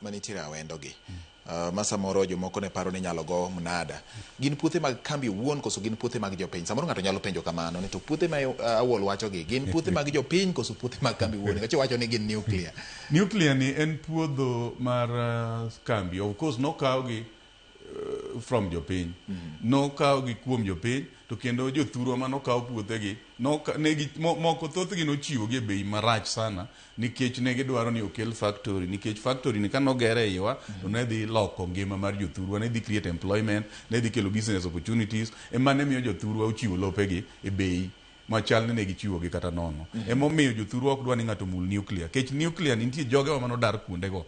manitiere awendogi uh, ma samoro jomoko ne paro ni inyalo go mnada gin puothe mag kambi owuon koso gin puothe mag jopiny samoro ng'ato nyalo penjo kamano ni to puothe ma uh, awol wachogi gin puothe mag jopiny koso puothe mag kambi owuon nikech iwacho ni gin nuclear Nuclear ni en puodho mar uh, kambi. Of course nokawgi eh, from jopiny nokawo gi kuom jopiny to kendo jothurwa ma nokawo puothegi noka- ne gi- mo- moko thothgi nochiwogi e bei marach sana nikech ne gidwaro ni okel factory nikech factory ni ka nogere e iwa to ne dhi loko ngima mar jothurwa ne dhi create employment ne dhi kelo business opportunities ema ne miyo jothurwa ochiwo lopegi e bei machal ni ne gichiwogi kata nono emomiyo jothurwa ok dwa ni ng'ato mul nuclear kech nuclear ni nitie jogewa manodar kuondego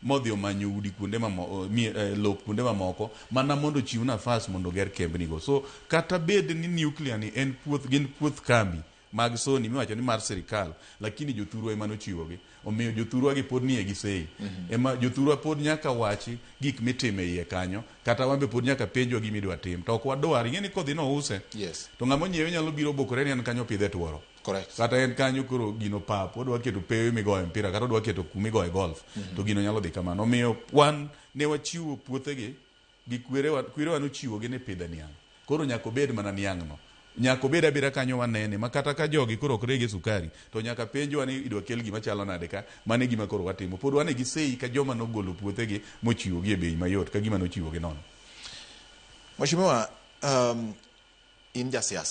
modhi omanyo udi kuonde mamoko, eh, lop kuonde mamoko mana mondo ochiw nafas mondo oger kembnigo. So kata bed ni nuclear ni en puoth, gin puoth kambi mag Sony miwacho ni mar sirkal, lakini jothurwa ema nochiwogi. Omiyo jothurwa gi pod nie gi sei. Mm -hmm. Ema jothurwa pod nyaka wachi gik mitime iye kanyo, kata wambe pod nyaka penjwa gimi dwa tim. To ok wadwar, ing'e ni kodhi no use. Yes. To ng'ama onyiewe nyalo biro bokore ni an kanyo pidhe tworo. Correct. kata en kanyo koro gino pap odwa keto pewe migoye mpira kata odwa keto kuma igoye golf to gino nyalo dhi kamano omiyo wan ne wachiwo puothegi gi kwerewa kwerewa nochiwogi ni pidhe niang' koro nyaka obed mana niang'no nyaka obed abeda kanyo wanene ma kata ka jogi koro ok rege sukari to nyaka penjwa ni idwa kel gima chalo nade ka mano e gima koro watimo pod wane gi sei ka joma nogolo puothegi mochiwogi e bei mayot ka gima nochiwogi nono Mheshimiwa, um, in jasiasa.